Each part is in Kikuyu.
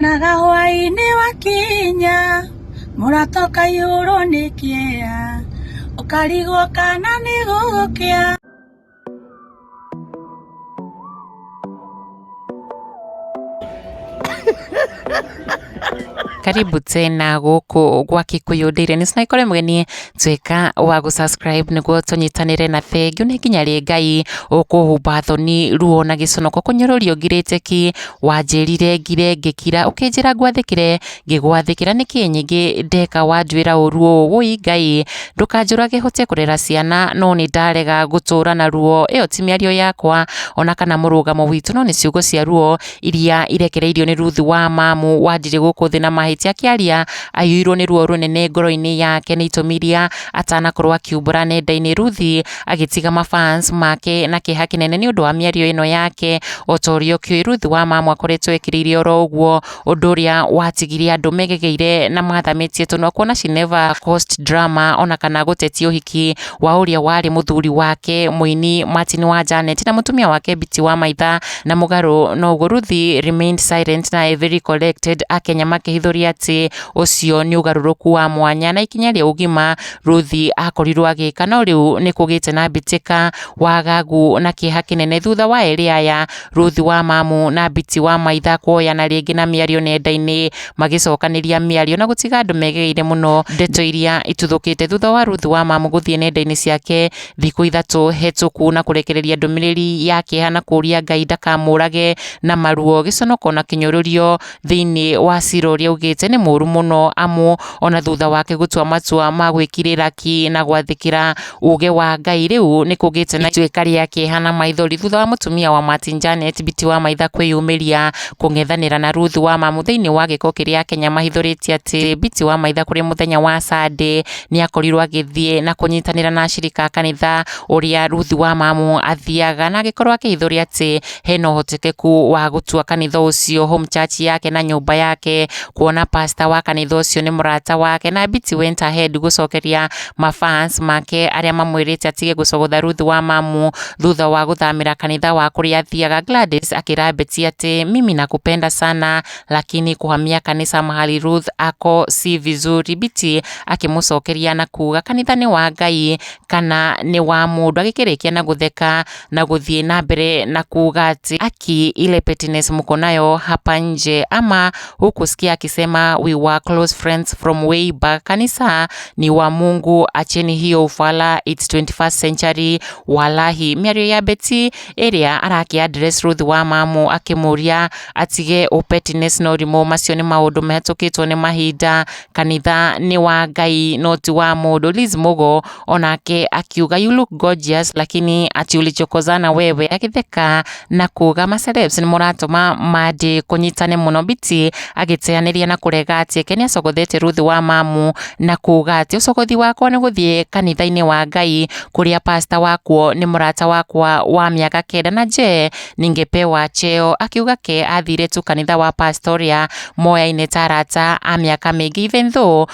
Naga hwainĩ wakinya mũrata ũkaihũrwo nĩ kĩeya ũkarigwo kana nĩ gũgũkĩa karibu tena guku gwa kikuyu ndire ni sinaikore kore mugeni tweka wa gu subscribe niguo tunyitanire na thengiu ni nginya ri ngai ukuhumba thoni ruo na giconoko kunyorurio ngirite ki Wanjĩrire ngire ngĩkira, ũkĩnjĩra ngwathĩkĩre ngĩgwathĩkĩra, nĩkĩ nyingĩ ndeka wanjwĩra ũru ũũ? Wũi Ngai, ndũkanjũrage hote kũrera ciana, no nĩ ndarega gũtũũra na ruo. Ĩyo ti mĩario yakwa, o na kana mũrũgamo witũ, no nĩ ciugo cia ruo iria irekereirio nĩ Ruthu wa Mamu, wanjirie gũkũ thĩ na mahĩtia akĩaria. Aiyũirwo nĩ ruo rũnene ngoro-inĩ yake nĩ itũmi iria atanakorwo akiumbũra nenda-inĩ. Ruthi agĩtiga mafans make na kĩeha kĩnene nĩ ũndũ wa mĩario ĩno yake o ta ũrĩa ũkĩũĩ Ruth Wamama akoretwo ekĩrĩire oro ũguo ũndũ ũrĩa watigire andũ megegeire na mathamĩtie tũnua kuona she never caused drama ona kana gũtetia ũhiki wa ũrĩa warĩ mũthuri wake mũini Martin wa Janet na mũtumia wake Biti wa Maitha na mũgarũ na ũguo Ruth remained silent na a very collected akenya makĩhithũria atĩ ũcio nĩ ũgarũrũku wa mwanya na ikinya rĩa ũgima Ruthi akorirwo agĩka no rĩu nĩ kũgĩte na mbĩtĩka, wagagu na kĩeha kĩnene thutha wa erĩ aya Ruthi wa mamu na Biti wa maitha kuoyana rĩngĩ na mĩario nenda-inĩ magĩcokanĩria mĩario na gũtiga andũ megereire mũno ndeto iria ituthũkĩte thutha wa Ruthi wa mamu gũthiĩ nenda-inĩ ciake thikũ ithatũ hetũku na kũrekereria ndũmĩrĩri ya kĩeha na kũria Ngai ndakamũrage na maruo gĩconoko na kĩnyũrũrio thĩinĩ wa cira ũrĩa augĩte nĩ mũru mũno amu ona thutha wake gũtua matua ma gwĩkirĩra ki na gwathĩkĩra uge wa Ngai rĩu nĩ kũgĩte na ituĩka rĩa kĩeha na maithori thutha wa mũtumia wa Martin Janet Biti wa Maitha kwĩyumĩria kũng'ethanĩra na Ruth wa Mamu thĩinĩ wa gĩko kĩrĩa Akenya mahithũrĩtie atĩ Biti wa Maitha kũrĩ mũthenya wa Sunday nĩ akorirwo agĩthiĩ na kũnyitanĩra na ashirika a kanitha ũrĩa Ruth wa Mamu athiaga na agĩkorwo akĩhithũria atĩ hena ũhotekeku wa gũtua kanitha ũcio home church yake na nyũmba yake kuona pastor wa kanitha ũcio nĩ mũrata wake na Biti went ahead gũcokeria mafans make arĩa mamwĩrĩte atige gũcogotha Ruth wa mamu thutha wa gũthamĩra kanitha wa kũrĩa athiaga Gladys akĩra Beti atĩ mimi nakupenda sana lakini kuhamia kanisa mahali Ruth ako si vizuri Biti akĩmũcokeria na kuga kanitha nĩ wa Ngai kana nĩ wa mũndũ agĩkĩrĩkia na gũtheka na gũthiĩ na mbere na kuuga ati aki ile pettiness mko nayo hapa nje ama huku sikia akisema we were close friends from way back kanisa ni wa mungu acheni hiyo ufala it's 21st century walahi mĩario ya beti ĩrĩa arakĩa address ruth wa mamu akĩmũria atige ũpettiness na ũrimũ macio nĩ maũndũ mahĩtũkĩtwo nĩ mahinda kanitha nĩ wa ngai no ti wa mũndũ liz mũgo O nake akiuga you look gorgeous lakini ati ulichokozana wewe, agĩtheka na kuga macelebs nĩ mũratũma mandi kũnyitane mũno. Biti agĩteanĩria na kũrega atĩ Ken acogothete Ruth wa mamu na kuga atĩ ũcogothi wakwa nĩ gũthiĩ kanitha-inĩ wa Ngai kũrĩa pasta wakuo nĩ mũrata wakwa wa mĩaka kenda na je ningepewa cheo, akiuga ke athire tu kanitha wa pasta ũrĩa moyaine ta arata a mĩaka mĩingĩ even though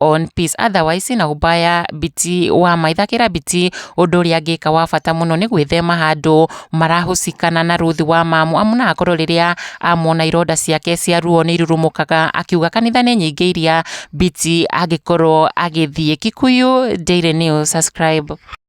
on peace otherwise na ũmbaya biti wa my thakĩra biti ũndũ ũrĩa angĩka wa bata mũno nĩ gwĩthema handũ marahũcikana na Ruth wa mamu amu na akorwo rĩrĩa amwona ironda ciake cia ruo nĩ irurumũkaga akiuga kanitha nĩ nyingĩ iria biti angĩkorwo agĩthiĩ Kikuyu Daily News subscribe